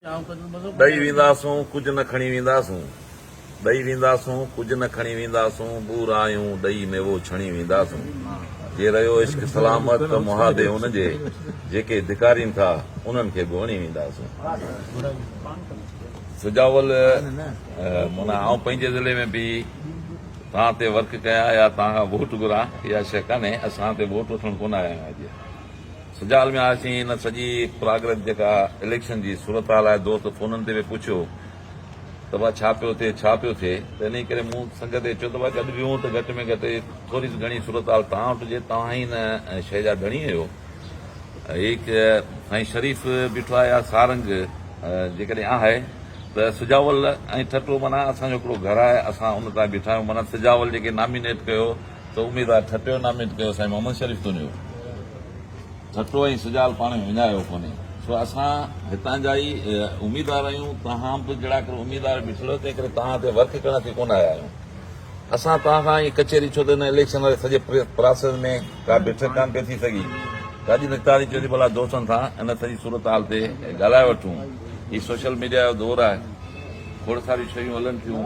ڏئي وينداسون ڪجهه نه کڻي وينداسون ڏئي وينداسون ڪجهه نه کڻي وينداسون ٻورايون ڏئي ميوو ڇڻي وينداسون جي رهيو عشق سلامت ته محابي ان جي جيڪي ڌڪارين ٿا انهن کي به وڻي وينداسون سجاول منا آئون پنهنجي ضلعي ۾ به توهان تي ورڪ ڪيان يا توهان کان ووٽ گهران اها شيء ڪانهي اسان تي ووٽ وٺڻ ڪونه آيا آهيون اڄ سجال ۾ آياسين، ان سڄي پراگرس جيڪا اليڪشن جي صورتحال آهي، دوست فونن تي به پڇيو ته ڀا ڇا پيو ٿئي، ڇا پيو ٿئي ته انهي ڪري مون سنگ تي چيو ته ڀا گڏ ويهون ته گهٽ ۾ گهٽ ٿوري گهڻي صورتحال توهان وٽ هجي، توهان ئي ان شيء جا ڌڻي آهيو. هيڪ سائين شريف بيٺو آهي يا سارنگ جيڪڏهن آهي ته سجاول ۽ ٺٽو معنيٰ اسان جو هڪڙو گهر آهي، اسان ان تان بيٺا آهيون معنيٰ سجاول جيڪي نامينيٽ ڪيو، ته اميدوار ٺٽو ناميد ڪيو سائين محمد شريف تونيو ٺٽو ۽ سجال پاڻ ۾ وڃايو ڪونهي سو اسان هتان جا ئي اميدوار آهيون توهان به جهڙا ڪر اميدوار بيٺلو تنهن ڪري توهان تي ورڪ ڪرڻ تي ڪونه آيا آهيون اسان توهان کان هي ڪچهري ڇو ته هن اليڪشن واري سڄي پراسيس ۾ ڪا بيٺڪ ڪان پئي ٿي سگهي تاجي نقطاري چيو ٿي ڀلا دوستن سان ان سڄي صورتحال تي ڳالهائي وٺون هي سوشل ميڊيا جو دور آهي کوڙ ساريون شيون هلن ٿيون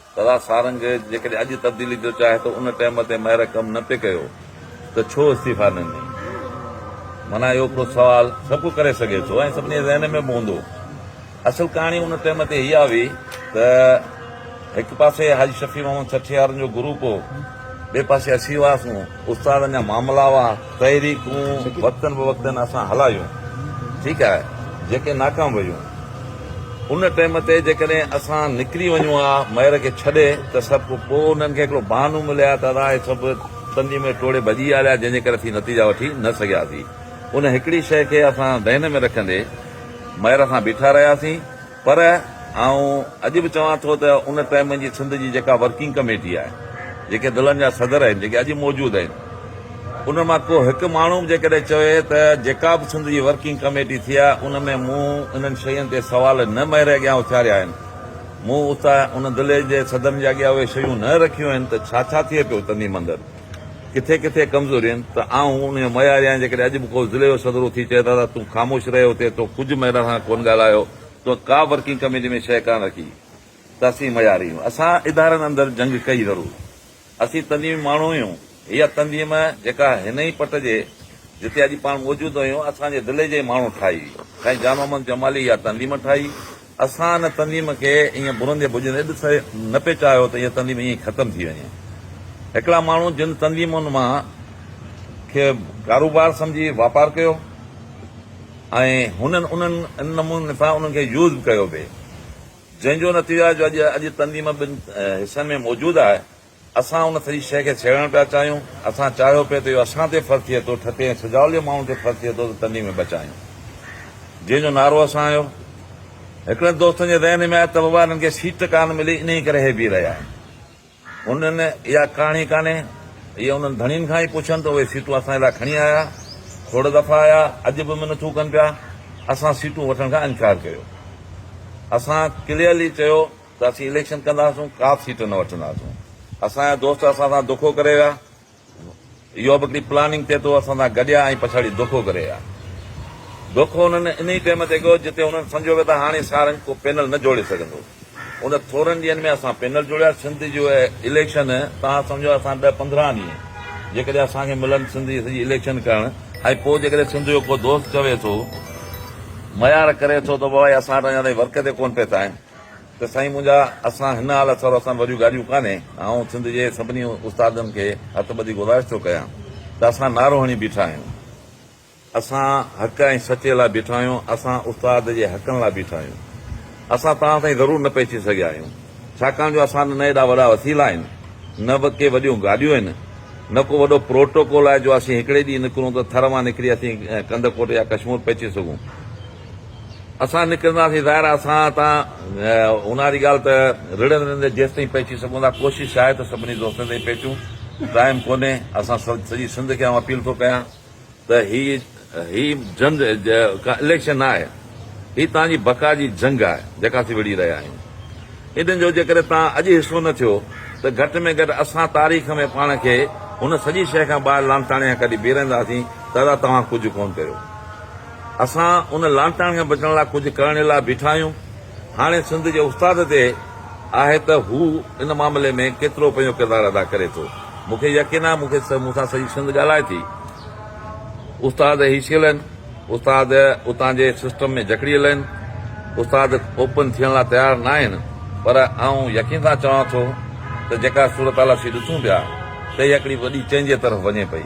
دادا سارنگ جيڪڏهن اڄ تبديلي جو چاهي ته ان ٽيم تي مهر ڪم نه پئي ڪيو ته ڇو استعيفا نه ڏني؟ معنيٰ اهو هڪڙو سوال سڀ ڪو ڪري سگهي ٿو ۽ سڀني جي ذهن ۾ به هوندو. اصل ڪهاڻي ان ٽيم تي اها هئي ته هڪ پاسي حاجي شفيع محمد سٺيارن جو گروپ هو، ٻئي پاسي اسين هئاسون، استادن جا معاملا هئا، تحريڪون وقتن بوقتن اسان هلايون، ٺيڪ آهي، جيڪي ناڪام ويون. ان ٽئيم تي جيڪڏهن اسان نڪري وڃون ها مئر کي ڇڏي ته سڀ ڪو پوء انهن کي هڪڙو بهانو ملي ها ته اسان هي سڀ تندي ۾ ٽوڙي ڀڄي آليا جنهن جي ڪري اسين نتيجا وٺي نه سگهياسين. ان هڪڙي شيء کي اسان ذهن ۾ رکندي مئر سان بيٺا رهياسين. پر آئون اڄ به چوان ٿو ته ان ٽائيم جي سنڌ جي جيڪا ورڪنگ ڪميٽي آهي، جيڪي ضلعن جا صدر آهن، جيڪي اڄ موجود آهن، انهن مان ڪو هڪ ماڻهو به جيڪڏهن چوي ته جيڪا به سنڌ جي ورڪنگ ڪميٽي ٿي آهي، ان ۾ مون انهن شين تي سوال نه مهري اڳيان اٿاريا آهن، مون اتان ان ضلعي جي صدرن جي اڳيان اهي شيون نه رکيون آهن ته ڇا ڇا ٿئي پيو تنظيم اندر. ڪٿي ڪٿي ڪمزوري آهن ته آئون ان جو معياري آهيان جيڪڏهن اڄ به ڪو ضلعي جو صدر اٿي چئي دادا تون خاموش رهي اتي تو ڪجهه ميڊيا سان ڪونه ڳالهايو تو ڪا ورڪنگ ڪميٽي ۾ شيء ڪانه رکي ته اسين معياري آهيون اسان ادارن اندر جنگ ڪئي ضرور اسين تنظيمي ماڻهو آهيون اها تنظيم جيڪا هن ئي پٽ جي جتي اڄ پاڻ موجود آهيون اسان جي ضلعي جي ئي ماڻهو ٺاهي سائين جان محمد جمالي اها تنظيم ٺاهي اسان ان تنظيم کي ائين ڀرندي ڀڄندي ڏسي نه پئي چاهيو ته اها تنظيم ائين ئي ختم ٿي وڃي. هڪڙا ماڻهو جن تنظيمن مان کي ڪاروبار سمجهي واپار ڪيو ۽ هنن انهن ان نموني سان انهن کي يوز به ڪيو به جنهن جو نتيجو آهي جو اڄ اڄ تنظيم ٻن حصن ۾ موجود آهي. اسان ان سڄي شيء کي سهيڙڻ پيا چاهيون. اسان چاهيو پئي ته اهو اسان تي فرض ٿئي ٿو، ٺٽي ۽ سجاولي ماڻهن تي فرض ٿئي ٿو ته تنين ۾ بچايون. جنهن جو نعرو اسان آهيو. هڪڙن دوستن جي ذهن ۾ آيو ته بابا انهن کي سيٽ ڪانه ملي انهيء ڪري هي بيهي رهيا آهن. انهن اها ڪهاڻي ڪانهي. اهي انهن ڌڻين کان ئي پڇن ته اهي سيٽون اسان جي لاء کڻي آيا. کوڙ دفعا آيا. اڄ به منٿون ڪن پيا. اسان سيٽون وٺڻ کان انڪار ڪيو. اسان ڪليئرلي چيو. ته اسين اليڪشن ڪنداسون ڪابه سيٽ نه وٺنداسون اسان جا دوست اسان سان دوکو ڪري ويا اهو به هڪڙي پلاننگ تي تو اسان سان گڏيا ۽ پڇاڙي دوکو ڪري ويا دوکو انهن انهي ٽيم تي ڪيو جتي انهن سمجهيو ويو ته هاڻي سارنگ ڪو پينل نه جوڙي سگهندو ان ٿورن ڏينهن ۾ اسان پينل جوڙيا سنڌ جو اليڪشن توهان سمجهو اسان ڏهه پندرهن ڏينهن جيڪڏهن اسان کي ملن سنڌ جي سڄي اليڪشن ڪرڻ ۽ پوء جيڪڏهن سنڌ جو ڪو دوست چوي ٿو ميار ڪري ٿو ته بابا اسان وٽ اڃا تائين ورڪر تي ڪون پهتا آهن ته سائين منهنجا اسان هن حال اٿا اسان به وڏيون گاڏيون ڪانهي آئون سنڌ جي سڀني استادن کي هٿ ٻڌي گذارش ٿو ڪيان ته اسان نعرو هڻي بيٺا آهيون اسان حق ۽ سچي لاء بيٺا آهيون اسان استاد جي حقن لاء بيٺا آهيون اسان توهان تائين ضرور نه پهچي سگهيا آهيون ڇاڪاڻ جو اسان نه ايڏا وڏا وسيلا آهن نه به ڪي وڏيون گاڏيون آهن نه ڪو وڏو پروٽوڪول آهي جو اسين هڪڙي ڏينهن نڪرون ته ٿر مان نڪري اسين ڪنڌڪوٽ يا ڪشمور پهچي سگهون اسان نڪرنداسين ظاهر آهي اسان تان اونهار جي ڳالهه ته رڙهندي رڙهندي جيستائين پهچي سگهون ٿا ڪوشش آهي ته سڀني دوستن تائين پهچون ٽائيم ڪونهي اسان سڄي سنڌ کي آئون اپيل ٿو ڪيان ته هي هي جنگ ڪا اليڪشن نه آهي هي تان جي بقا جي جنگ آهي جيڪا اسين وڙهي رهيا آهيون انهن جو جيڪڏهن تان اڄ حصو نه ٿيو ته گهٽ ۾ گهٽ اسان تاريخ ۾ پاڻ کي هن سڄي شيء کان ٻاهر لانتاڻي کان ڪڍي بيهرنداسين ته ادا توهان ڪجهه ڪونه ڪيو اسان ان لانتاڻي کان بچڻ لاء ڪجهه ڪرڻ لاء بيٺا آهيون. هاڻي سنڌ جي استاد تي آهي ته هو ان معاملي ۾ ڪيترو پنهنجو ڪردار ادا ڪري ٿو. مون کي يقين آهي مون کي مون سان سڄي سنڌ ڳالهائي ٿي. استاد هي شيل آهن. استاد اتان جي سسٽم ۾ جڪڙيل آهن. استاد اوپن ٿيڻ لاء تيار نه آهن پر آئون يقين سان چوان ٿو ته جيڪا صورتحال اسين ڏسون پيا سهي هڪڙي وڏي چينج جي طرف وڃي پئي.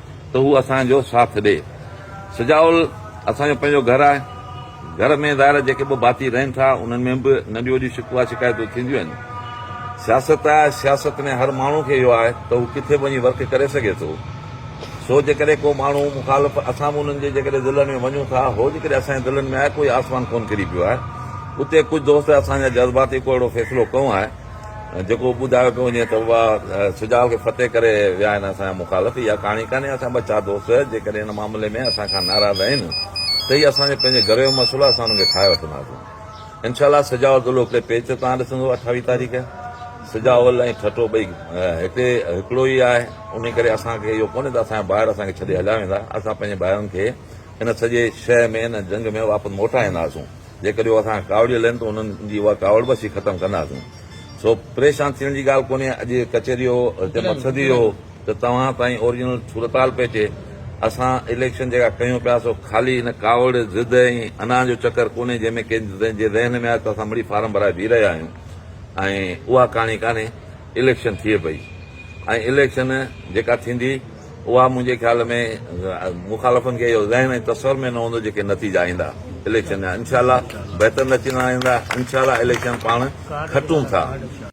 ته هو اسان جو ساٿ ڏئي. سجاول اسان جو پنهنجو گهر آهي. گهر ۾ ظاهر جيڪي ٻه ڀاتي رهن ٿا، انهن ۾ به ننڍيون وڏيون شڪوه شڪايتون ٿينديون آهن. سياست آهي، سياست ۾ هر ماڻهو کي اهو آهي ته هو ڪٿي به وڃي ورڪ ڪري سگهي ٿو. سو جيڪڏهن ڪو ماڻهو مخالف اسان به انهن جي جيڪڏهن دلن ۾ وڃون ٿا، هو جيڪڏهن اسان جي دلن ۾ آهي، ڪوئي آسمان ڪونه ڪري پيو آهي. اتي ڪجهه دوست اسان جا جذباتي ڪو اهڙو فيصلو ڪيو آهي. جيڪو ٻڌايو پيو وڃي ته اها سجال کي فتح ڪري ويا آهن اسان جا مخالف اها ڪهاڻي ڪانهي اسان جا ٻه چار دوست جيڪڏهن ان معاملي ۾ اسان کان ناراض آهن ته هي اسان جو پنهنجي گهر جو مسئلو اسان انهن کي ٺاهي وٺنداسون انشاء الله سجاء الدولو هڪڙي پيچ تان ڏسندو اٺاويهه تاريخ سجاء ال ۽ ٺٽو ٻئي هتي هڪڙو ئي آهي ان ڪري اسان کي اهو ڪونهي ته اسان جا ڀائر اسان کي ڇڏي هليا ويندا اسان پنهنجي ڀائرن کي ان سڄي شهر ۾ ان جنگ ۾ واپس موٽائينداسون جيڪڏهن هو اسان کان ڪاوڙيل آهن ته انهن جي اها ڪاوڙ به اسين ختم ڪنداسون. سو پريشان ٿيڻ جي ڳالهه ڪونهي. اڄ ڪچهري جو هتي مقصد ئي اهو هو ته توهان تائين اورجنل صورتحال پهچي. اسان اليڪشن جيڪا ڪيون پيا سو خالي ان ڪاوڙ، ضد ۽ انا جو چڪر ڪونهي جنهن ۾ ڪنهن جي ذهن ۾ آيو ته اسان مڙئي فارم ڀرائي بيهي رهيا آهيون ۽ اها ڪهاڻي ڪانهي. اليڪشن ٿئي پئي ۽ اليڪشن جيڪا ٿيندي. اها منهنجي خيال ۾ مخالفن کي اهو ذهن ۽ تصور ۾ نه هوندو جيڪي نتيجا ايندا اليڪشن جا انشاء الله بهتر نتيجا ايندا انشاء الله اليڪشن پاڻ کٽون ٿا.